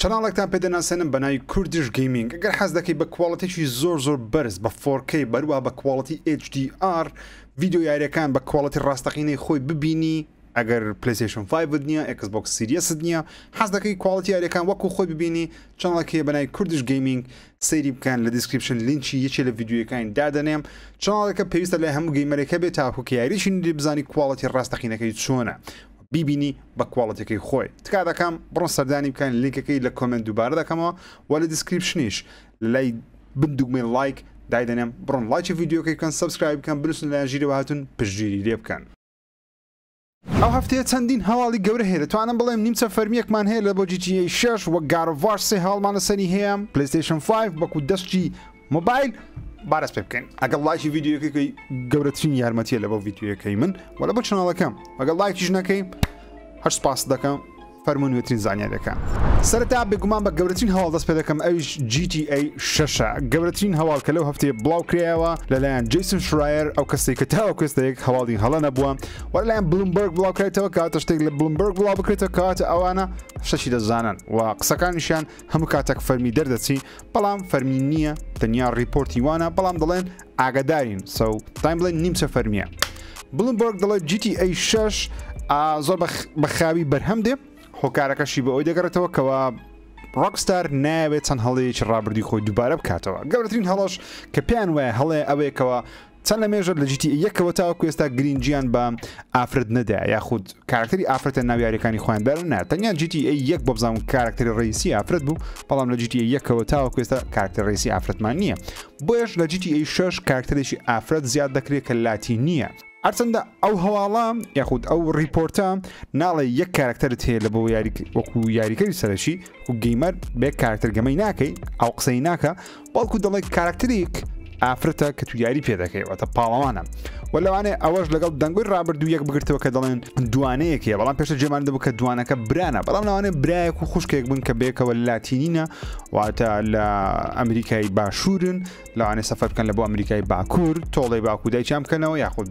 چەناڵێکتان پێ دەناسێنم بە ناوی کوردیش گەیمینگ گەر حەز دەکەی بە کوالێتێکی زۆر زۆر بەرز بە فۆر کەی بەروە بە کوالێتی ئێچ دی ئار ڤیدیۆ یاریەکان بە کوالێتی ڕاستەقینەی خۆی ببینی ئەگەر پلیسیشن فایڤت نییە ئەکس بۆک سیریەست نییە حەز دەکەی کوالتی یاریەکان وەکو خۆی ببینی چەنڵەکەیە بەنای کوردش گەیمینگ سەیری بکەن لە دیسکرپشن لینچی یەکێ لە یددیوەکانی دادەنێم چاڵەکە پێویستە لە هەموو گەیمەرێکە بێت تاکوکە یاریشی بزانانی کوالتی ڕاستەقینەکەی چۆنە بیبینی بە کواڵتیەکەی خۆی تکا دەکەم بڕۆن سەردانی بکەن لینکەکەی لە کۆمنت دووبارە دەکەمەوە و لە دیسکریپشنیش لای بن دوگمەی لایک دایدەنێم بڕۆن لایکی ڤیددیوکەی بکەن سبسکرایب بکەن بنووسن لایەن ژیرەوە هاتون پشتگیری لێ بکەن ئەو هەفتەیە چەندین هەواڵی گەورە هەیە دەتوانم بڵێم نیمچە فەرمیەکمان هەیە لە بۆ جیتی شش وە گارۆڤاش سێ هەواڵمان لەسەری هەیە پلیستیشن 5 وەکو دەستی مۆبایل بارەس پێ بکەین ئەگەڵ لایکی ڤیددیوەکەی گەورەترین یارمەتیە لە بۆ ڤیددیوەکەی من وە لە بۆ چناڵەکەم ئەگەڵ لایکیش نەکەی هەر سپاس دەکەم فەرمونوێترین زانیارەکە سەرتا بێگومان بە گەورەترین هەواڵ دەست پێ دەکەم ئەویش GTA شەشە گەورەترین هەواڵ کە لەو هەفتەیە بڵاو کرایەوە لەلایەن جیسن شرایر ئەو کەسی کە تاوە کوێستەیەک هەواڵی هەڵە نەبووە وەر لایەن بلومبرگ بڵاوکرێتەوە کاتە شتێک لە بلومبرگ بڵاو بکرێتە کاتە ئەوانە شەشی دەزانن و قسەکانیشیان هەموو کاتێک فەرمی دەردەچی بەڵام فەرمی نییە تەنیا ڕیپۆرتی وانە بەڵام دەڵێن ئاگدارین سەو تایم بڵێن نیمچە فەرمیە بڵمبۆرگ دەڵێت جیتی ئەی شش زۆر بەخاوی بەرهەم دێ هۆکارەکەشی بە ئەوی دەگەڕێتەوە کەەوە ڕۆکستار ناوێت چەند هەڵەیەکی ڕابردی خۆی دووبارە بکاتەوە گەورەترین هەڵەش کە پێیان وایە هەڵێ ئەوەیەکەوە چەند لە مێژە لە GTA یەکەوە تاوەکو ئێستا گرینگیان بە ئافرەت نەدایە یاخود کارکتەری ئافرەتە ناو یاریەکانی خۆیان دارە نا تەنیا GTA یەک بۆ بزانم کارکتەری ڕیسی ئافرەت بوو بەڵام لە GTA یەکەوە تاوەکو ئێستا کارکتەر ڕیسی ئافرەتمان نییە بۆیەش لە GTA 6 کارکتەرێکی ئافرەت زیاد دەکرێت کە لاتی نییە هەرچەندە ئەو هەواڵە یاخود ئەو ریپۆرتە ناڵێ یەک کارکتەرت هەیە لە بۆ یاری وەکو یاریکەری سەرەکی و گەیمەر بێ کارکتەر گەمەی ناکەی ئەو قسەی ناکە بەڵکو دەڵێت کاراکتەریک ئافرەتە کە تو یاری پێ دەکەی واتە پاڵەوانە و لەوانێ ئەوەش لەگەڵ دەنگۆی ڕابردوو یەک بگرتەوە کە دەڵێن دوانەیەکەیە بەڵام پێشە جێمان دەبوو کە دوانەکە برانە بەڵام لەوانێ برایەک و خوشکێک بن کە بێکەوە لاتینینە واتە لە ئەمریکای باشوورن لەوانێ سەفەر بکەن لە بۆ ئەمریکای باکوور تۆڵی باکوودای چام بکەنەوە یاخود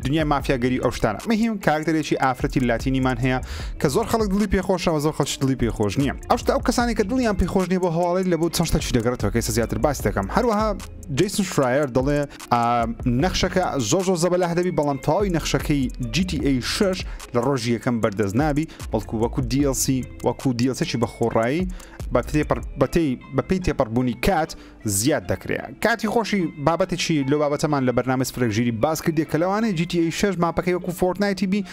دنیای مافیا گەری ئەو شتانە مەهیم کاکتەرێکی ئافرەتی لاتینیمان هەیە کە زۆر خەڵک دڵی پێخۆشەوە زۆر خەڵکی دڵی پێخۆش نییە ئەوشتا ئەو کەسانی کە دڵیان پێخۆش نیە بۆ هەواڵی لە بۆ چەند شتەکی دەگەڕێتەوە کەسە زیاتر باس دەکەم هەروەها جیسن شرایر دەڵێ نەخشەکە زۆر زۆر زەبەلاه دەبی بەڵام تەواوی نەخشەکەی GTA 6 لە ڕۆژی یەکەم بەردەست نابی بەڵکو وەکو DLC وەکو دیڵسێکی بەخۆڕایی بەتێ بەتەی بەپی تێپەڕبوونی کات زیاد دەکرێ کاتی خۆشی بابەتێکی لۆ بابەتەمان لە بەرنامە سفرەک ژیری باس کردێک کە لەوانەیە GTA 6 ماپەکەی وەکو فۆرتنایتی بی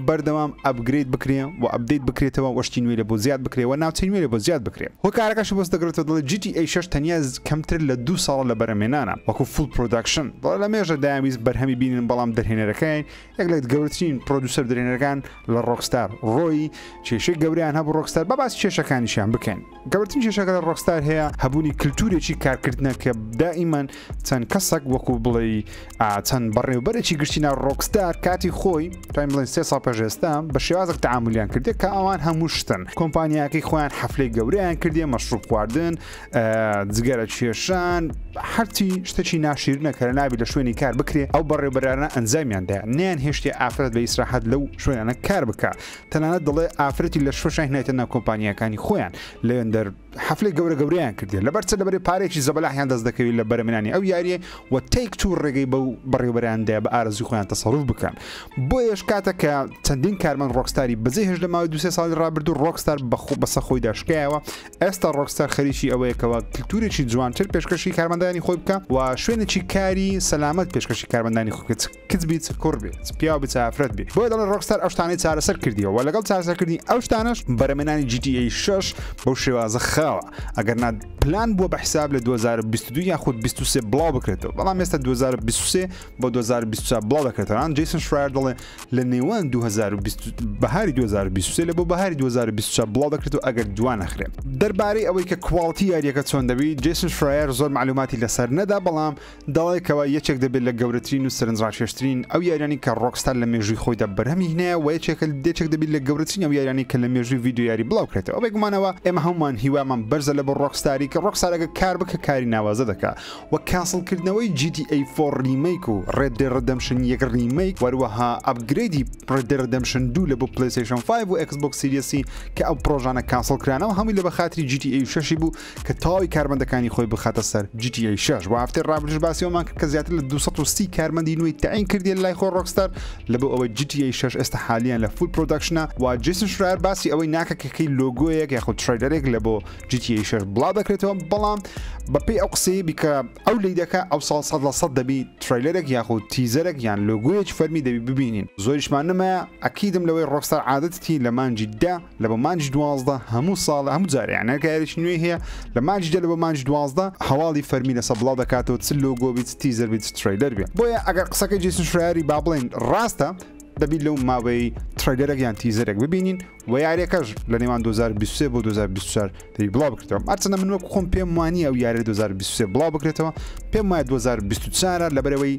بەردەوام ئەبگریت بکرێ و ئەبدەیت بکرێتەوە وەشتی نوێ لە بۆ زیاد بکرێ و ناوچەی نوێ لە بۆ زیاد بکرێ هۆکارەکەش بۆست دەگرێتەوە دڵی GTA 6 تەنیا کەمتر لە دو ساڵە لە بەرەمێنانە وەکو فول پرۆداکشن دڵە لە مێژە داویست بەرهەمی بینن بەڵام دەرهێنەرەکەی یەک لە گەورترین پرۆدوسەر درێنەرەکان لە ڕۆکستار ڕۆی کێشەی گەوریان هەبوو ڕۆکستار بە باس کێشەکانیشیان بکەن گەورترین کێشەکە لە ڕۆکستار هەیە هەبوونی کللتورێکی کارکردنە کە دائیمان چەند کەسەک وەکو بڵێ چەند بەڕێوبەرێکی گشتی ناو ڕۆکستار کاتی خۆی تایم بڵێن سێ سا پێشێستا بە شێوازێک تعاملیان کردێت کە ئەوان هەموو شتن کۆمپانیاکەی خۆیان حەفلەی گەوریان کردێ مەشروب خواردن جگەرە کێشان هەرچی شتێکی ناشیرنەکە نابی لە شوێنی کار بکرێ ئەو بەڕێبەرانە ئەنجامیاندا نیان هێشتی ئافرەت لە ئیسراحەت لەو شوێنانە کار بکە تەنانەت دەڵێ ئافرەتی لە شوشای نایتە ناو کۆمپانیەکانی خۆیان لەێندەر حفلی گەورە گەوریان کردی لەبەر چە لەبەری پارێکی زەبەلاحیان دەست دەکەوی لە بەرەمنانی ئەو یاریە و تێک تو ڕێگەی بەو بەڕێوبەراندا بە ئارزی خۆیان تەسەڕوف بکەن بۆ یش کاتە کە چەندین کارمەن ڕۆکستاری بەجێ هێش لە ماوەی دو ساڵی ڕابردو ڕۆکستار بەخۆ بەسە خۆی داشکایەوە ئێستا ڕۆکستار خەریکی ئەوەیەکەوە کللتورێکی جوانتر پێشکەشی کارمەندانی خۆی بکە و شوێنێکی کاری سەلامەت پێشکەشی کارمەندانی خوکە کچ بیت کوڕ بیت پیاو بیت ئافرەت بیت بۆیە دەڵێن ڕۆکستار ئەو شتانەی چارەسەر کردیەوە و لەگەڵ چارەسەرکردنی ئەو شتانەش بەرەمێنانی GTA 6 بەو شێوازە خاوە ئەگەر نا پلان بووە بە حساب لە 2022 یاخود 23 بڵاو بکرێتەوە بەڵام ئێستا 2023 بۆ 2024 بڵاو دەکرێتەوەان جیسن شرایر دەڵێ لە نێوان 2020 بەهاری 2023 لە بۆ بەهاری 2024 بڵاو دەکرێت و ئەگەر دوان نەخرێت دەربارەی ئەوەی کە کوواڵتی یاریەکە چۆن دەبی جیسن شرایر زۆر معلوماتی لەسەر نەدا بەڵام داوای کەوە یەکێک دەبێت لە گەورەترین و سەرنجڕاکێشترین ئەو یاریانی کە ڕۆکستار لە مێژووی خۆیدا بەرهەمی هینایە و یەکێکە دێچێک دەبیت لە گەورەترین ئەو یاریانی کە لە مێژووی ڤیدیۆ یاری بڵاوکرێتەوە بێگومانەوە ئێمە هەموومان هیوامان بەرزە لە بۆ ڕۆکستاری کە ڕۆکستارەگە کار بکە کاری ناوازە دەکا وە کاسڵ کردنەوەی جی تی ئەی فۆڕ ڕیمەیک و ڕێد دێ ڕدەمشن یەک ڕیمەیک وەروەها ئەپگرێدی ڕێد دێ ڕدەمشن دوو لە بۆ پلەیستەیشن فایڤ و ئێکس بۆکس سیریەسی کە ئەو پڕۆژانە کاسڵ کرانەوە هەمووی لە بە خاتری جی تی ئەی شەشی بوو کە تەواوی کارمەندەکانی خۆی بخاتە سەر GTA 6 بۆ هەفتەی ڕابردوش باسی ئەومان کرد کە زیاتر لە 230 کارمەندی نوێی تەعین کردیە لای خۆ ڕۆکستار لە بۆ ئەوەی GTA 6 ئێستا حالیان لە فول پرۆدەکشنە و جیسن شرایەر باسی ئەوەی ناکە کە کەی لۆگۆیەک یاخود ترەیلەرێک لە بۆ GTA 6 بڵاو دەکرێتەوە بەڵام بەپێی ئەو قسەیە بیکە ئەو لی دەکە ئەو ساڵ سەد لە سەد دەبی ترەیلەرێک یاخود تیزەرێک یان لۆگۆیەکی فەرمی دەبی ببینین زۆریشمان نمایە ئەکیدم لەوەی ڕۆکستار عادەتتی لە مانجی دە لە بە مانجی دوازدە هەموو ساڵ هەموو جارێ یانە کارێکی نوێی هەیە لە مانجی دە لە بە مانجی دوازدە هەواڵی فەرمی لەسە بڵاو دەکاتەوە چ لۆگۆ بیت تیزەر بیت تریلەر بێ بۆیە ئەگەر قسەکە جیسن شراری با بڵێن ڕاستە دەبیت لەو ماوەی تریلەرەک یان تیزەرێک ببینین و یاریەکەش لە نێوان 2023 بۆ 2024 دەبی بڵا بکرێتەوە ئەرچەنە من وەک خۆم پێم وانی ئەو یاری 2023 بڵا بکرێتەوە پێم وایە 2024 لەبەرەوەی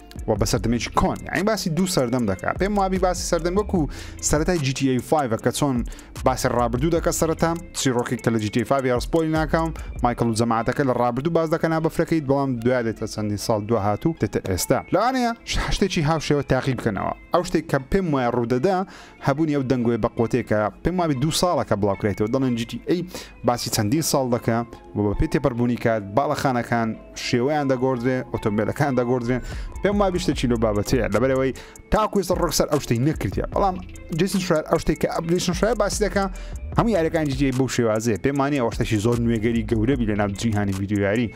و بە سەردەمێکی کۆن ئەین باسی دوو سەردەم دەکات پێم وابی باسی سەردەم وەکو سەرەتای GTA5 کە چۆن باسی ڕابردوو دەکە سەرەتا چیرۆکێک کە لە GTA5 یاڕسپۆی ناکەم مایکل و جەماعاتەکە لە ڕابردوو باز دەکەنا بەفرەکەیت بەڵام دوای دێتە چەندین ساڵ دو هاتوو دێتە ئێستا لەوانەیە شتێکی هاوشێوە تاقی بکەنەوە ئەو شتێک کە پێم وایە ڕوودەدا هەبوونی ئەو دەنگۆیە بە قوتێکە پێم وابێت دوو ساڵەکە بڵاوکرێتەوە دەڵێن جیتی ئەی باسی چەندین ساڵ دەکە و بە پێ تێپەربوونی کات باڵەخانەکان شێوەیان دەگۆدرێ ئۆتۆمبیلەکان دەگۆدرێن پێم وا بیشتێکی لۆ بابەتەیە لەبەرەوەی تاکوێستە ڕۆکسەر ئەو شتەی نەکردە بەڵام جسن شار ئەو شتێک کە ئەپلیشن شای باسی دەکە هەموو یاریەکان جیتی بەو شێوازێ پێمانانی ئەوشتەشی زۆر نوێگەری گەورەبی لە ناو جیهانی ویددیویاری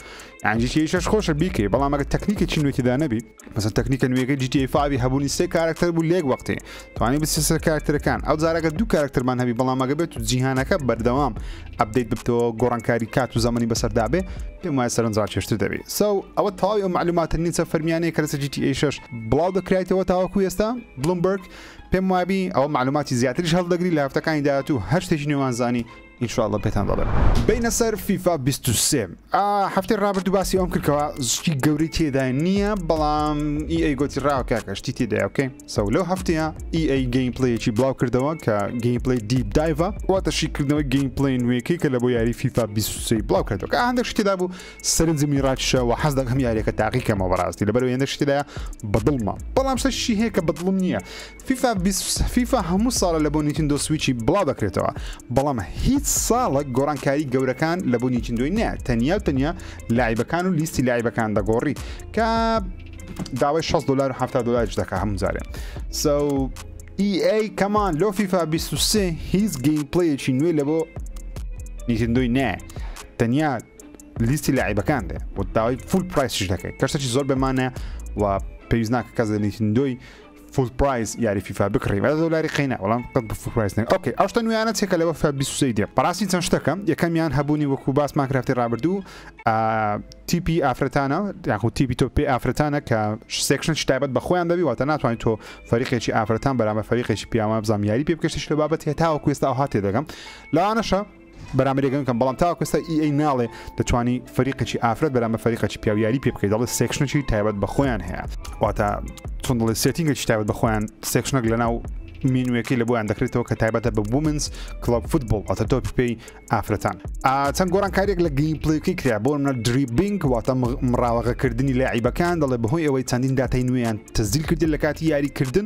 یانجیتیشش خۆشە بیکەی بەڵام ئەگە تەکنیکێکی نوێتیدا نەبی مەسەن تەکنیکە نوێەکەی GTA 5 هەبوونی سێ کارکتەر بوو لێک وەختێ توانانی بچێت سەر کارکتەرەکان ئەو جارەکە دوو کارکتەرمان هەبی بەڵامەگە بێت و جیهانەکە بەردەوام ئەبدەیت ببتەوە گۆڕانکاری کات و زەمەنی بەسەردابێ پێم وایە سەرنجڕاکێشتر دەبێت سو ئەوە تەواوی ئەو معلوماتە نیچە فەرمیانەیە کە لەسەر GTA 6 بڵاو دەکرایتەوە تاوەکو ئێستا بلومبرگ پێم وابی ئەوە معلوماتی زیاتریش هەڵدەگری لە هەفتەکانی داهاتوو هەر شتێکی نوێمان زانی ان شاء اللە پێتان دەڵێم. بەینە سەر فیفا بیست و سێ. ئا هەفتەی ڕابردوو باسی ئەوەم کرد کەوا شتی گەورەی تێدا نییە بەڵام ئی ئەی گۆتی ڕاوە کاکە شتی تێدایە بکەین سەو لەو هەفتەیە ئی ئەی گەیم پلەیەکی بڵاو کردەوە کە گەیم پلی دیپ دایڤە واتە شیکردنەوەی گەیم پلی نوێکەی کە لە بۆ یاری فیفا 23 بڵاو کردەوە کە هەندێک شتی تێدا بوو سەرنجی منی ڕاکیشەوە حەز دەکەم یاریەکە تاقیکەمەوە بەڕاستی لەبەرەوە هێندە شتی تێدایە بەدڵمە بەڵام شتێکی هەیە کە بەدڵم نییە فیفا بیست و سێ فیفا هەموو ساڵە لە بۆ نیتندۆ سویچی بڵاو دەکرێتەوە بەڵام هیچ ساڵێک گۆڕانکاری گەورەکان لە بۆ نیتندۆی نیە تەنیا و تەنیا لایبەکان و لیستی لایبەکان دەگۆڕی کە داوای 6 دلار و 70 دلارش دەکە هەموو جارێ سو EA کەمان لۆ فیفا 23 هیچ گەیم پلەیەکی نوێ لە بۆ نیتندۆی نایە تەنیا لیستی لایبەکان دێ بۆ داوای فول پرایسش دەکەیت کەشتەکی زۆر بەمانە و پێویست ناکە کەس لە نیتندۆی فول پرایس یاری فیفا بکڕی بە دۆلاری قەینا بەڵام قەت بە فول پرایس نەک ئۆکەی ئەو شتە نوێیانە چێکە لەوە فیفا 23 دێ بەڕاستی چەند شتەکە یەکەمیان هەبوونی وەکو باسمان کرا هەفتەی ڕابردوو تیپی ئافرەتانە یاخو تیپی تۆ پێی ئافرەتانە کە سێکشن تایبەت بە خۆیان دەبی واتە ناتوانین تۆ فەریقێکی ئافرەتان بەرامە فەریقێکی پیاوان بزانام یاری پێ بکەشتش لە بابەت هێتاوە کوێستا ئەو هاتێ دەگەم لەوانەشە بەرامبەری گەن کەم بەڵام تاوەکو ئێستا ئی ئەی ناڵێ دەتوانی فەریقێکی ئافرەت بەرامبەر فەریقێکی پیاو یاری پێ بکەیت دەڵێ سێکشنێکی تایبەت بە خۆیان هەیە واتە چۆن دەڵێ سێتینگێکی تایبەت بە خۆیان سێکشنەک لەناو مینوەکەی لە بۆیان دەکرێتەوە کە تایبەتە بە بومنس کلب فوتبڵ ئەتە تۆ پێی ئافرەتان چەند گۆرانکاریێک لە گەیم پلیکی کرا بۆ منە دریبینگ واتە مراوەغەکردنی لە عیبەکان دەڵێ بەهۆی ئەوەی چەندین دااتای نوێیان تەزیل کردن لە کاتی یاریکردن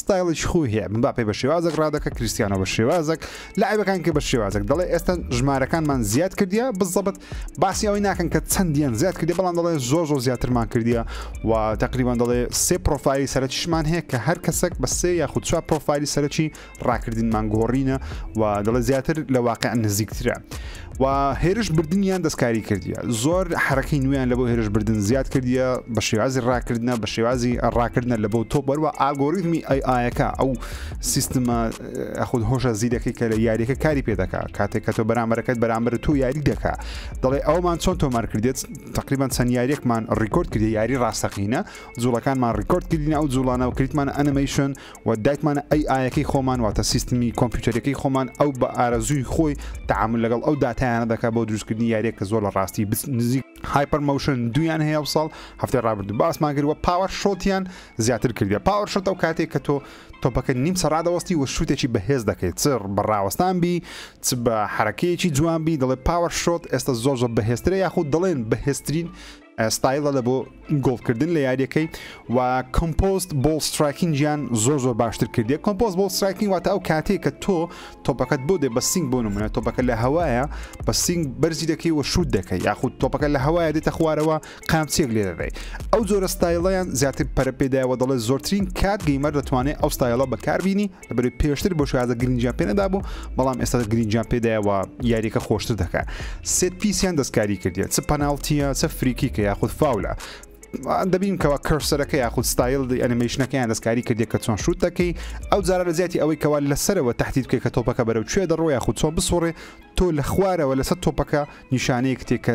ستایڵیش خوی هەیە مباپێ بە شێوازەک ڕادەکە کریستیانۆ بە شێوازەک لاعیبەکان کە بە شێوازەک دەڵێ ئێستا ژمارەکانمان زیاد کردیە بزەبت باسی ئەوەی ناکەن کە چەندیان زیاد کردی بەڵام دەڵێ زۆر زۆر زیاترمان کردیە و تقریبان دەڵێ سێ پرۆفایلی سەرەکیشمان هەیە کە هەر کەسێک بە سێ یاخود چوار پرۆفایلی سەرەکی ڕاکردنمان گۆڕینە و دەڵێ زیاتر لە واقع نزیکترە. و هێرش بردنیان دەستکاری کردیە زۆر حرەکەی نوێیان لە بۆ هێرش بردن زیاد کردیە بە شێوازی ڕاکردە بە شێوازی ڕاکردە لە بۆ تۆ بەروە ئاگۆریتمی ئەی ئاەکە ئەو سیستمە خود هۆشە زیرەکەی کە لە یاریەکە کاری پێ دەکا کاتێک کە تۆ بەرامبەرەکەت بەرامبەر تۆ یاری دەکا دەڵێ ئەومان چۆن تۆمار کردێت تقریبان چەند یاریەکمان ڕیکۆرد کردی یاری ڕاستەقینە جوڵەکانمان ڕیکۆرد کردین ئەو جوڵانەوە کریتمان ئەنمەیشن و دایتمانە ئەی ئایەکەی خۆمان واتە سیستمی کۆمپیوتەرەکەی خۆمان ئەو بە ئارەزووی خۆی تەعامل لەگەڵ ئەو داتایانە دەکات بۆ دروستکردنی یاریێک کە زۆر لە ڕاستی نزیک هایپەر مەوشن دویان هەیە و ساڵ هەفتەی ڕابردوو باسمان کرد و پاوەر شۆتیان زیاتر کردە پاوەر شۆت ئەو کاتێک کە تۆ تۆپەکە نیم سەرادەوەستی و شوتێکی بەهێز دەکەیت چڕ بە ڕاوەستان بی چ بە حرەکەیەکی جوان بی دەڵێ پاوەر شۆت ئێستا زۆر زۆر بەهێسترە یاخود دەڵێن بەهێسترین ستایلە لە بۆ گۆڵ کردن لە یاریەکەی و کۆمپۆست بۆڵ ستراکینگیان زۆر زۆر باشتر کردی کۆمپۆز بۆڵ ستراکین واتە ئەو کاتێک کە تۆ تۆپەکەت بۆ دێ بە سنگ بۆ نمونە تۆپەکە لە هەوایە بە سنگ بەرزی دەکەی و شوود دەکەی یاخود تۆپەکە لە هەوایە دێتە خوارەوە قامچێک لێ دەدەی ئەو جۆرە ستایلەیان زیاتر پەرپێدایەوە دەڵێت زۆرترین کات گەیمەر دەتوانێت ئەو ستایلە بەکاربیینی لەبەرەی پێشتر بۆ شازە گرنجیان پێ نەدابوو بەڵام ئێستا گرنجیان پێدایەوە یاریەکە خۆشتر دەکات سێت پیسیان دەستکاری کردێت چ پەناڵتیە چە فریکی کە یاخود فاولە دەبین کەەوە کەرسەرەکە یاخود ستایل ئەنیمەیشنەکەیان دەستکاری کردێک کە چۆن شووت دەکەی ئەو جارە لە زیاتی ئەوەی کەوا لەسەرەوە تهدید بکە کە تۆپەکە بەرەو کوێ دەڕۆ یاخود چۆن بسوڕێ تۆ لە خوارەوە لەسەر تۆپەکە نیشانەیەک تێکە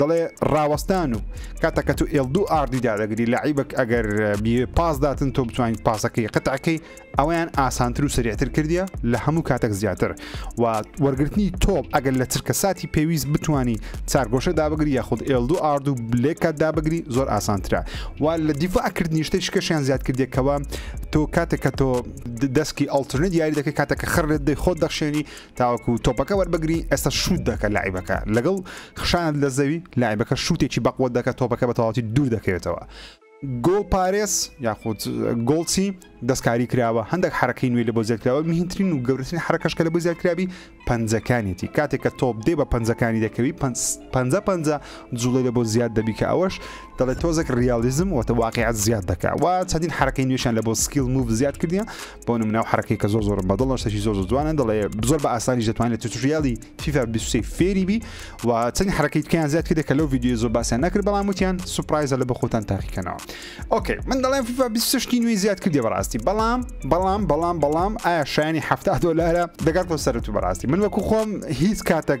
دەڵێ ڕاوەستان و کاتە کە تو ئێل دوو ئاردی دادەگری لە عیبک ئەگەر پاس داتن تۆ بتوانیت پاسەکەی قەتعەکەی ئەویان ئاسانتر و سریعتر کردیە لە هەموو کاتێک زیاتر و وەرگرتنی تۆپ ئەگەر لە چرکە ساتی پێویست بتانی چارگۆشە دابگری یاخود ئێل دوو ئارد و بلێکات دابگری زۆر ئاسانترە و لە دیفاعکردنی شتە شکەشیان زیاد کردێکەوە تۆ کاتێک کە تۆ دەستکی ئەڵترنت یاری دەکەی کاتێککە خڕێت دەی خۆت دەخشێنی تاوەکو تۆپەکە وەربگری ئێستا شوت دەکە لاعیبەکە لەگەڵ خشانت لە زەوی لاعیبەکە شوتێکی بەقوە دەکە تۆپەکە بە تەواتی دوور دەکەوێتەوە گۆڵ پارێز یاخود گۆڵچی دەستکاری کراوە هەندێک حرەکەی نوێ لە بۆ زیادکراوە میهترین و گەورەترین حرەکەش کە لە بۆ زیادکراوی پەنجەکانیەتی کاتێک کە تۆپ دێ بە پەنجەکانی دەکەوی پ پ جوڵی لە بۆ زیاد دەبی کە ئەوەش دەڵێت تۆزێک ریالیزم وتە واقعات زیاد دەکە و چەندین حرەکەی نوێشان لە بۆ سکیل موو زیاد کردیان بۆ نمونە ئەو حەرەکەی کە زۆر زۆر بەدڵە شتێکی زۆر زۆر جوانە دەڵێ زۆر بە ئاسانیش دەتوانێت توتوریالی فیفا 23 فێری بی و چەند حرەکەی تکیان زیاد کردێک کە لەو ویددیو زۆر باسییان نەکرد بەڵام وتیان سوپایزە لە بە خۆتان تاقیکەنەوە ئۆکەی من دەڵێن فیفا 26 نوێی زیاد کردێ بەڕاستی بەڵام بەڵام بەڵام بەڵام ئایا شایانی ه دلارە دەگات بۆ سەرت و بەڕاستی من وەکو خۆم هیچ کاتێک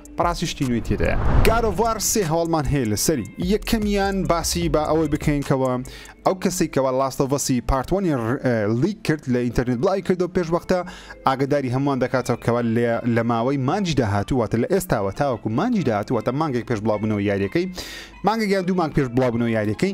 بەڕاستی شتی نوێی تێدایە. گاد ئۆف وار سێ هەواڵمان هەیە لەسەری یەکەمیان باسی با ئەوەی بکەین کەوە ئەو کەسەی کەوا لاست ئۆف ئەسی پارت وەنی لیک کرد لە ئینتەرنێت بڵاوی کردەوە پێش وەختە ئاگەداری هەمووان دەکاتەوە کەوا لێ لە ماوەی مانجی داهاتوو واتە لە ئێستاوە تاوەکو مانجی داهاتوو واتە مانگێک پێش بڵاوبوونەوەی یاریەکەی مانگێک یان دوو مانگ پێش بڵاوبوونەوەی یاریەکەی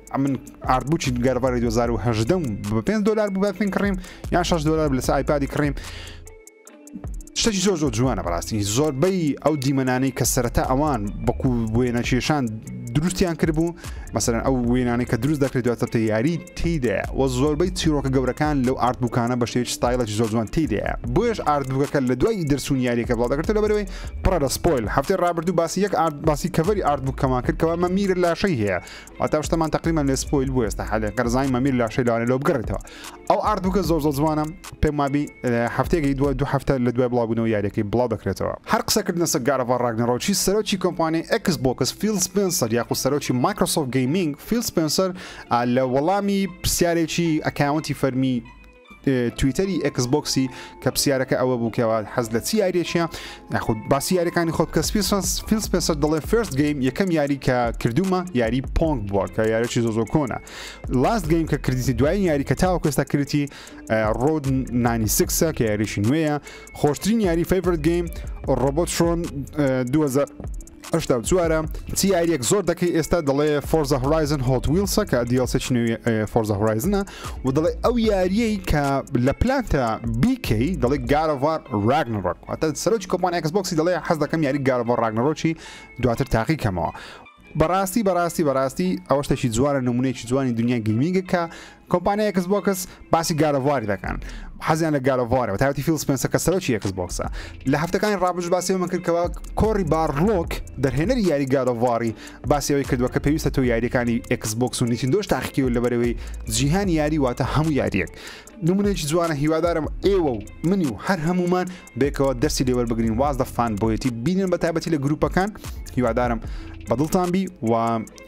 ئەمن ئارتبووکی گەربەری 2010 بە 5 دلار بوو بە پێین کڕیم یان 6 دلار لەس ئایپادی کڕیم شتێکی زۆر زۆر جوانە بەڕاستی زۆربەی ئەو دیمەنانەی کە سەرەتا ئەوان بەکو وێنە کێشان دروستیان کردبوو مەسەرەن ئەو وێنانەی کە دروست دەکرێت دواتە یاری تیدا و زۆربەی چیرۆکە گەورەکان لەو ئارد بووکانە بە شێوی ستایلەکی زۆر جوان تیدا بۆیش ئاردبووەکە لە دوای دەرسون یاریەکە بڵاو دەکرێت لە بەرەوەی پڕە لە سپۆیل هەفتەی ڕابردوو باسی یەک ئارد باسی کەڤری ئارد بووکەمان کرد کەوا مەمیرە لاشەی هەیە واتا شتەمان تەقریبەن لێ سپۆیل بوو ئێستا حەلێ قەرزانی مەمیر لاشەی لەوانێ لۆ بگەڕێتەوە ئەو ئارد بکە زۆر زۆر جوانە پێم وابی هەفتێکی دووە دوو هەفتە لە دوای بڵاوبوونەوە یاریەکەی بڵاو دەکرێتەوە هەر قسەکردنە سە گارەوە ڕاگنەڕۆکی سەرۆکی کۆمپانی ئەکس بۆکس فیل سپنسەر یاخود سەرۆکی مایکرۆسۆف گەیمینگ فیل سپنسەر لە وەڵامی پرسیارێکی ئەکاونتی فەرمی تویتەری ئێکس بۆکسی کە پرسیارەکە ئەوە بوو کەەوە حەز لە چی یاریێکە ناخود باسی یاریەکانی خۆ بکە سپیسنس فیلس پێسەر دەڵێ فرست گەیم یەکەم یاری کە کردومە یاری پۆنگ بووە کە یارێکی زۆ زۆ کۆنە لاست گەیم کە کردیتی دوای یاری کە تاوە کوێستا کردی ڕۆد 96 کە یاریشی نوێیە خۆشترین یاری فیفرت گەیم ڕۆبۆترۆن 2000 هەشتا و چوارە چی یاریەک زۆر دەکەی ئێستا دەڵێ فۆرزە هۆرایزن هۆت ویلسە کە دیڵسێکی نوێ فۆرزە هۆرایزنە و دەڵێ ئەو یاریەی کە لە پلانتە بیکەی دەڵێ گارەوار راگنڕۆک ئەتە سەرۆکی کۆپان ئەکسبکسی دەڵێ حەز دەکەم یاری گارەوە راگنڕۆکی دواتر تاقی کەمەوە بەڕاستی بەڕاستی بەڕاستی ئەوە شتێکی جوانە نمونێکی جوانی دنیا گەیمینگە کە کۆمپانیای ئێکس بۆکس باسی گارەڤاری دەکەن حەزیان لە گارەڤارەوە تاوتی فیل سپنسە کە سەرۆکی ئێکس بۆکسە لە هەفتەکانی ڕابش باسی من کردکەوە کۆری بارلۆک دەرهێنەری یاری گارەڤاری باسیەوەی کردووە کە پێویستە تۆ یاریەکانی ئێکس بۆکس و نیتین دۆش تاقیکی و لەبەرەوەی جیهان یاری واتە هەموو یاریەک نمونێکی جوانە هیوادارم ئێوە و منی و هەر هەمومان بێکەوە دەستی لێوەر بگرین واز دەفان بۆیەتی بینن بە تابەتی لە گروپەکان هیوادارم بەدڵتان بی و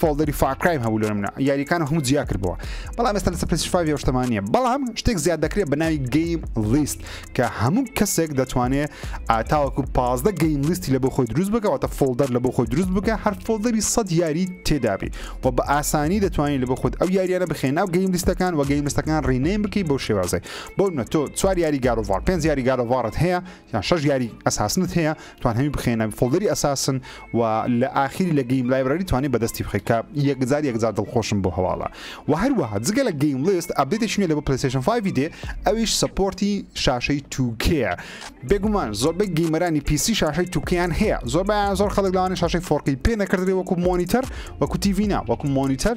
فۆڵدەری فار کرایم هەبوو لە منە یاریەکان هەموو جیا کردەوە بەڵام ئێستا لەسەر پێسش فاوی شتەمانە بەڵام شتێک زیاد دەکرێت بە ناوی گەیم لیست کە هەموو کەسێک دەتوانێت ئاتاوەکو پازدە گەیم لیستی لە بۆ خۆی دروست بکەوەتە فۆڵدەر لە بۆ خۆی دروست بکە هەر فۆڵدەری سەد یاری تێدابی و بە ئاسانی دەتوانانی لە بۆ خۆت ئەو یاریانە بخێن ناو گەیم لیستەکان و گەیم لیستەکان ڕینەیم بکەی بۆ شێوازی بۆ نە تۆ چوار یاری گارۆڤار پێنج یاری گارۆڤارت هەیە یان شەش یاری ئەساسنت هەیە توان هەمی بخێنە فڵدەری ئەساسن و لە ئاخیری لە گەیم لایبراری توانێت بەدەستی بخی کە یەکجار یەکجار دڵخۆشم بۆ هەواڵە و هەروەها جگە لە گەیم لست ئەبدێتێکی نوێ لە بۆ پلیسشن 5 دێ ئەویش سپۆرتی شاشەی توکەیە بێگومان زۆربەی گەیمەرانی پیسی شاشەی توکیان هەیە زۆربیان زۆر خەڵک لەوانە شاشەی فۆرکی پێ نەکردێ وەکو مۆنیتەر وەکو تیڤینا وەکو مۆنیتەر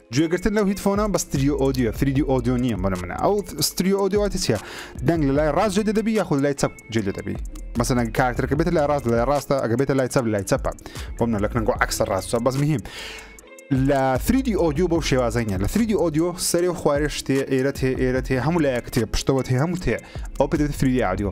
گوێگرتن لەو هیتفۆنە بە ستریۆ ئۆدیۆ فریدی ئۆدیۆ نییە بۆە منە ئەو ستریۆ ئۆدیۆواتی چیە دەنگ لە لای ڕاست جێ دەبی یاخود لای چەپ جێ دەبی مەسەنە کارتەکە بێت لای ڕاست لای ڕاستە ئەگە بێتە لای چەپ لای چەپە بۆ منە لەکنەگۆ عکسە ڕاستە بەس مهم لە فریدی ئۆدیو بەو شێوازەنە لە فریدی ئۆدیۆ سەرێ و خوارێ شتێ ئێرە هێ ئێرە هێ هەموو لایەکتێ پشتەوە هێ هەموو تێ ئەو پێ فریدی ئادیۆ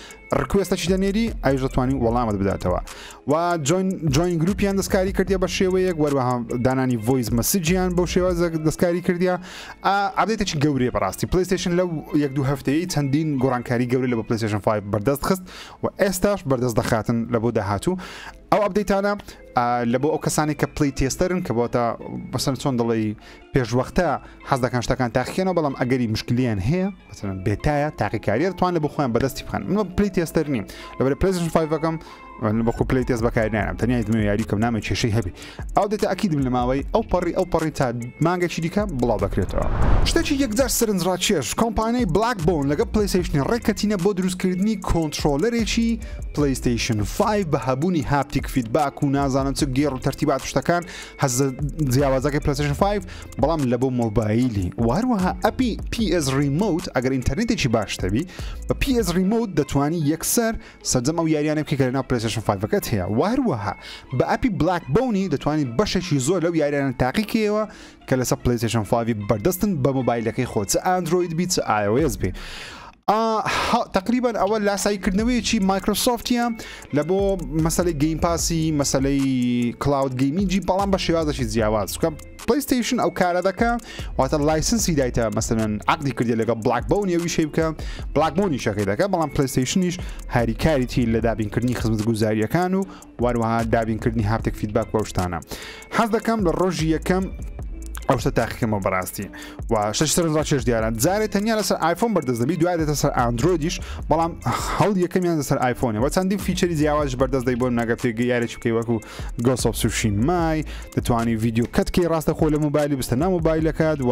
ڕکوێستە چی دەنێری ئایش دەتوانانی وەڵامت بداتەوە و جوین گروپیان دەستکاری کردی بە شێوەیەک وەروەها دانانی ڤۆیس مەسجیان بۆ شێوە دەستکاری کردیا ئابێتێکی گەورێ بەڕاستی پلیستشن لەو یەک دو هەفتەیە چەندین گۆڕانکاری گەورە لە بە پلیستشن 5 بەردەست خست و ئێستاش بەردەست دەخاتن لە بۆ داهاتوو ئەو ئەبدەیتانە لە بۆ ئەو کەسانی کە پلی تێستەرن کە بۆتە بەسەر چۆن دەڵی پێشوەختە حەز دەکەن شتەکان تاقیکەنەوە بەڵام ئەگەری مشکلیان هەیە مثلەن بێتایە تاقیکاریە توانێت بۆ خۆیان بەدەستی بخەن منە پلی تێستەر نیم لەبەر پلیزم فیفەکەم بەخۆ پلی تێز بەکارنیانم تەنیا دمە یاری کەم نامە کێشەی هەبی ئەو دێتە ئەکیدم لە ماوەی ئەو پەڕی ئەو پەڕی تا مانگەکی دیکە بڵاو دەکرێتەوە شتێکی یەکجار سرنجڕاکێش کۆمپانیای بلاک بۆن لەگە پلیسیشنی ڕێککەتینە بۆ دروستکردنی کۆنتترۆلەرێکی پلیستیشن 5 بە هەبوونی هاپتیک فیدباک و نازانم چ گێڕ و تەرتیبات شتەکان حەز جیاوازەکەی پلسشن 5 بەڵام لە بۆ مۆبایلی و هەروەها ئەپی PS ریموت ئەگەر ئینتەرنێتێکی باشتەبی بە PS ریموت دەتوانی یەکسەر سەرجەم ئەو یاریانە بکە لەناو پلسشن 5ەکەت هەیە و هەروەها بە ئەپی بلاک بونی دەتوانانی بەشێکی زۆر لەو یاریانە تاقیکەوە کە لەسەر پلیسشن 5 بەردەستن بە مۆبایلەکەی خۆ چ ئەندروید بیت ئاوێز بێ ئاه تەقریبەن ئەوە لاسایی کردنەوەیەکی مایکرۆسۆفتە لە بۆ مەسلەی گەیم پاسی مەسلەی کلااود گەیمینجی بەڵام بە شێوازەی جیاواز بکەم پلیستیشن ئەو کارە دەکە واتە لایسنسی دایتە مەسەن عقدی کردی لەگە بلاک بەون یویشی بکە بلاک بۆنی شەکەی دەکە بەڵام پلیستیشنیش هاریکاریی لە دابینکردنی خزمەت گوزاریەکان و واروەها دابین کردنی هافتێک فیدباک و ئەو شتانە حەز دەکەم لە ڕۆژی یەکەم ئەو شتە تاقیکەمەوە بەڕاستی و شش سەرنجڕا چێش دیارە جارێ تەنیا لەسەر آیفۆن بەردەست دەبی دوای دێتە سەر ئاندرۆیدیش بەڵام هەڵ یەکەمیان لەسەر آیفۆنە وە چەندی فیچەری جیاواز بەردەست دەی بۆ ناگە پێگە یارێکی بکەی وەکو گۆسەڵ سوشی مای دەتوانانی ڤیددیو کەتکەی ڕاستە خۆ لە موبایلی بستە نامۆبایلەکەت و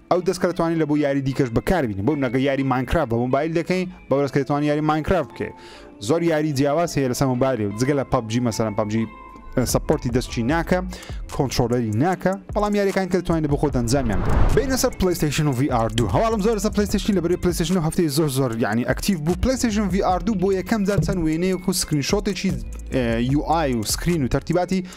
ئەو دەسکە دەتوانین لە بۆ یاری دیکەش بەکاربین بۆ نەگە یاری ماینکراف بە مۆبایل دەکەین بە ڕێزکە دەتوان یاری ماینکراف بکەێت زۆر یاری جیاواز هەیە لەسەر مۆبایل و جگە لە پبجی مەسەرم پبجی سپۆرتی دەستچی ناکە کۆنتترۆلەری ناکە بەڵام یاریەکان کە دەتوانین بخۆ دەنجامیان بینە سەر پلیستشن و VR2 هەواڵم زۆر سە پلیستشن لە بری پلیستشن و هەفتەی زۆر زۆر یعنی ئەکتیف بوو پلیستشن VR2 بۆ یەکەم جار چەند وێنەیەک و سکرین شۆتێکی UI و سکرین و تەرتیباتی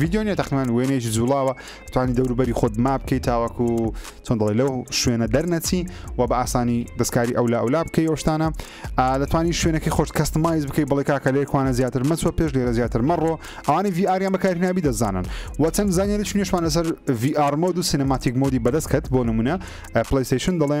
ڤیددیو نیە تەقنان وێنێکی جوڵاوە توانی دەوروبەری خۆت ما بکەیت تاوەکو چۆن دەڵێ لەو شوێنە دەرنەچی و بە ئاسانی دەستکاری ئەو لە ئەولا بکەی ئەوشتانە دەتوانانی شوێنەکەی خۆش کەستمایز بکەی بڵێ کاکە لێکوانە زیاتر مەچوە پێش لێرە زیاتر مەڕۆ ئەوانی VRیان بەکاری نابی دەزانن و چەند زانانی چنیشمان لەسەر VR مۆد و سینەماتیک مۆدی بەدەست کەت بۆ نمونە پلیسیشن دەڵێ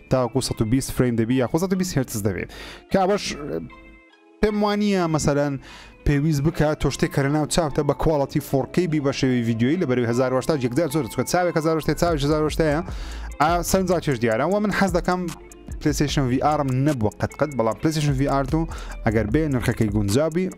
تاوەکو سەد و بیست فرەیم دەبی یاخۆ سەد و بیست هێرتز دەبێت کە ئەوەش پێم وانە مەسەلەن پێویست بکە تۆ شتێک کەرە ناو چاپتە بە کواڵەتی فۆرکی بی بە شێوی یددیوی لە بەری 1970 یەکدا زۆر چکە چاوێک 1970 چاوی 1970 ئا سەرنجا چێش دیارە و من حەز دەکەم پلیسیشن وی ئارم نەبووە قەت قەت بەڵام پلیسیشن وی ئارد و ئەگەر بێ نرخەکەی گونجابی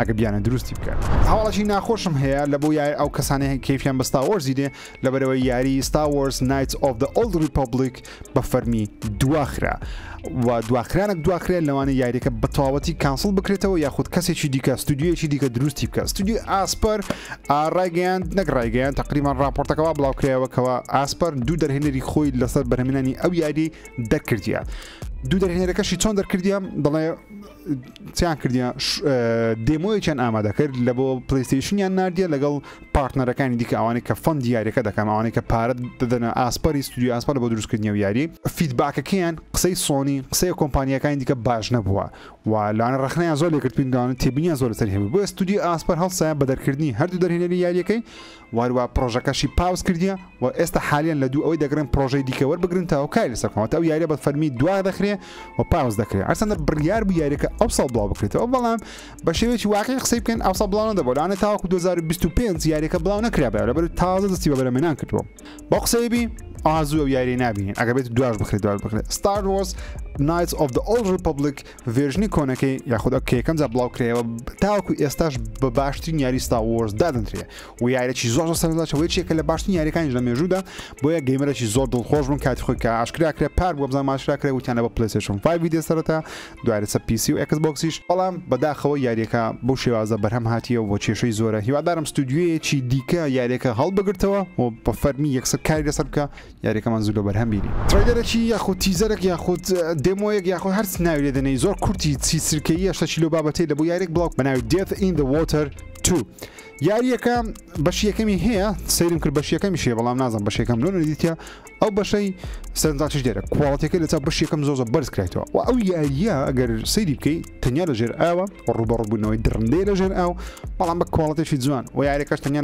ئەگە بیانە دروستی بکات هەواڵەی ناخۆشم هەیە لە بۆ یای ئەو کەسانەیە کەفیان بە ستاوەرزی دێ لەبەرەوە یاری ستاوەرز نایت ئۆف دە ئۆلد ریپبلیک بە فەرمی دواخرا و دواخرانە دواخرێ لەوانە یاریەکە بەتەواوەتی کانسڵ بکرێتەوە یاخود کەسێکی دیکە ستودیویەکی دیکە دروستی بکە ستودی ئاسپەر ڕایگەیاند نەک ڕایگەیان تقریبان راپۆرتەکەەوە بڵاوکرایەوەکەەوە ئاسپەر دوو دەرهێنەری خۆی لەسەر بەرهمێنانی ئەو یاری دەرکردە دوو دەرهێنەرەکەشی چۆن دەرکردە دەڵێ چیان کردە دێمۆیەکیان ئامادە کرد لە بۆ پلیستیشنیان نردە لەگەڵ پارتنەرەکانی دیکە ئەوانەی کە فەند دیارەکە دەکەم ئەوانەی کە پارەت دەدەنە ئاسپەری سودی ئاسپە لە بۆ دروستکردنی و یاری فیدباکەکەیان قسەی سۆنی قسەی کۆمپانیەکانی دیکە باش نەبووە و لاانە ڕخنیان زۆر لەکردپینداوانە تێبینیان زۆر لەسەر هەبوو بۆ ستودی ئاسپەر هەڵسایە بە دەرکردنی هەردوو دەرهێنەری یاریەکەی واروا پرۆژەکەشی پاوس کردیە و ئێستا حالیان لە دوو ئەوەی دەگرن پرۆژەی دیکە وەربگرن تا هۆکاری لەسەر کۆمەتە ئەو یاریە بە فەرمی دوا دەخرێ و پاوس دەکرێت ئەسەندە بڕیار بوو یاریەکە ئەو ساڵ بڵاو بکرێتەوە بەڵام بە شێوەیەکی واقعی قسەی بکەن ئەو ساڵ بڵاو نەدەبوو لەوانە تاوەکو 2025 یاریەکە بڵاو نەکرابێت لەبەر تازە دەستی بە بەرەمێنان کردووە بەو قسەی بی ئازوو یاری نابین ئەگە بێت دواش بخرێت دواش بخرێت ستار وۆس نایت ئۆف دە ئۆڵ ریپبلیک ڤێرژنی کۆنەکەی یاخود ئەو کەیەکەم جا بڵاو کرەوە تاوەکو ئێستاش بە باشترین یاری ستا وۆرز دادنرێ و یارێکی زۆر سەرچەوەی چێکە لە باشترین یاریەکانی لە مێژوودا بۆیە گەیمەرەی زۆر دڵخۆش بن کاتی خۆی کە ئاشکراکرێ پار بۆ بزان ماشراکرێ وتیانە بە پلسشن فیددیە سەرەتا دوارەسە پیسی و ئەکس بۆکسیش بەڵام بەداخەوە یاریەکە بۆ شێوازە بەرهەم هاتیە و بۆ کێشەی زۆرە هیوادارم ستودیوەیەکی دیکە یاریەکە هەڵبگرتەوە و بە فەرمی یەکسەر کاری لەسەر بکە یاریەکەمان زوو لۆ بەرهەم بینی. تڕەیلەرەکی یاخود تیزەرەک یاخود دێمۆیەک یاخود هەرچ ناوی لێ دەنێی زۆر کورتی چی سرکەییە شتەکی لۆ بابەتەی لە بۆ یاریەک بڵاو بە ناوی Death in the Water 2 یاریەکە بەشی یەکەمی هەیە سەیرم کرد بەشی یەکەمی شێ بەڵام نازم بەشی یەکەم لۆ نەدیتە ئەو بەشەی سەرنجاچش دێرە کوواڵەتەکە لە چا بەشی یەکەم زۆزە بەرز کرایتەوە و ئەو یاریە ئەگەر سەیری بکەی تەنیا لە ژێر ئاوە ڕوبەڕبوونەوەی دڕندەی لەژێر ئاو بەڵام بە کۆڵەتێکی جوان و یاریەکەش تەنیا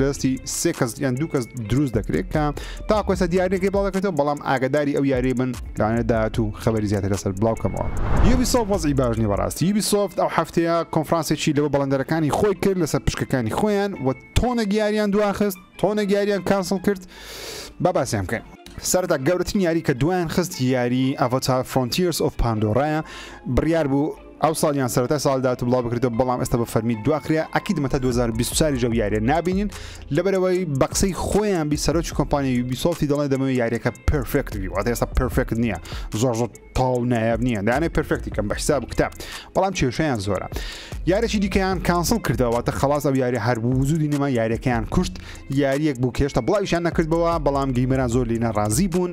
لەستی سێ کەس یان دوو کەس دروست دەکرێت کە تاکۆسە دیارەکەی بڵاو دەکرێتەوە بەڵام ئاگداری ئەو یاری بن لەوانە داات و خبری زیاتر لەسەر بڵاوکەمەوە یوبی سۆف وەزی باشنی بەڕاستی یوبی سۆفت ئەو هەفتەیە کۆنفرانسێکی لەوە بەڵندەرەکانی خۆی کرد لەسەر پشکەکانی خۆیان و تۆنە گیاریان دواخست تۆنە گیاریان کانسڵ کرد با باسیان بکەین سەردا گەورەترین یاری کە دوایان خست یاری ئەڤۆتار فرۆنتیرس ئۆف پاندۆڕایە بڕیار بوو ئەو ساڵ یان سەرەتای ساڵی داهاتوو بڵاو بکرێتەوە بەڵام ئێستا بە فەرمی دواخرێ ئەکیدمە تا 2024 ژەو یاریە نابینین لەبەرەوەی بە قسەی خۆیان بی سەرۆکی کۆمپانیا یوبیسۆفتی دەڵێ دەمەوێت یاریەکە پرفێکت بی واتە ئێستا پرفێکت نییە زۆر زۆر تاو نایاب نییە دانێ پرفێکتی کەم بە حساب کتە بەڵام کێشیان زۆرە یارێکی دیکەیان کانسڵ کردەوە تە خلاص ئەو یاری هەر بوو وجودی نەما یاریەکەیان کوشت یاریەک بوو کێشتە بڵاویشان نەکردەوە بەڵام گەیمەران زۆر لینە ڕازی بوون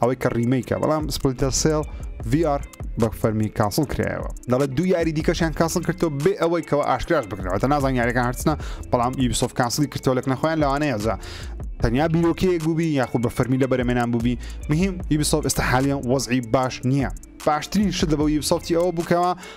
ئەوەی کە ڕیمەیکە بەڵام سپلتە سێڵ VR بە فەرمی کاسڵ کرایەوە دەڵێت دوو یاری دیکەشیان کاسڵ کردو بێ ئەوەی کەەوە ئاشکراش بکرەوە تا نازان یاریەکان هەرچنە بەڵام یبسۆف کاسڵی کردەوە لەک نەخۆیان لەوانەیە جا تەنیا بیرۆکەیەک بووبی یاخود بە فەرمی لە بەرەمێنان بووبی مهم یبسۆف ئێستا حالیان وەزعی باش نییە باشترین شت لە بە یبسۆفتی ئەوە بووکەوە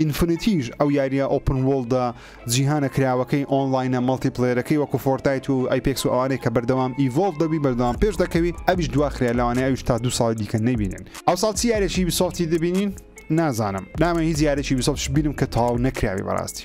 ئینفنیتیش ئەو یاریە ئۆپن وۆڵدە جیهانە کراوەکەی ئۆنڵاینە مەڵتی پلەیەرەکەی وەکو فۆرتایت و ئەیپێکس و ئەوانەی کە بەردەوام ئیڤۆڵڤ دەبی بەردەوام پێش دەکەوی ئەویش دواخریا لەوانەیە ئەویش تا دوو ساڵی دیکە نەیبینن ئەوساڵ چی یارێکی بیسۆفتی دەبینین نازانم نامەوێ هیچ یارێکی بیسۆفتش بینم کە تەواو نەکراوی بەڕاستی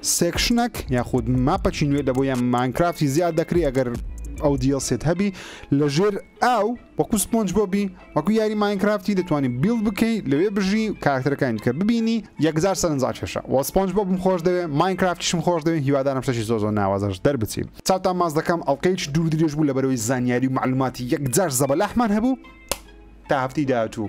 سێکشنەک یاخود ماپەکی نوێ دەبوو یان ماینکرافتی زیاد دەکری ئەگەر ئەو دیڵسێت هەبی لە ژێر ئاو وەکو سپۆنج بۆ بی وەکو یاری ماینکرافتی دەتوانانی بیڵ بکەی لەوێ بژی کارکتەرەکانی دیکە ببینی یەکجار سەرنجا کێشە وە سپۆنج بۆ بم خۆش دەوێ ماینکرافتیشم خۆش دەوێ هیوادارم شتەکی زۆر زۆر ناوازەش دەربچی چاوتان ماز دەکەم ئەڵقەیەکی دوور درێژ بوو لەبەرەوەی زانیاری و معلوماتی یەکجار زەبەلاحمان هەبوو تا هەفتی داهاتوو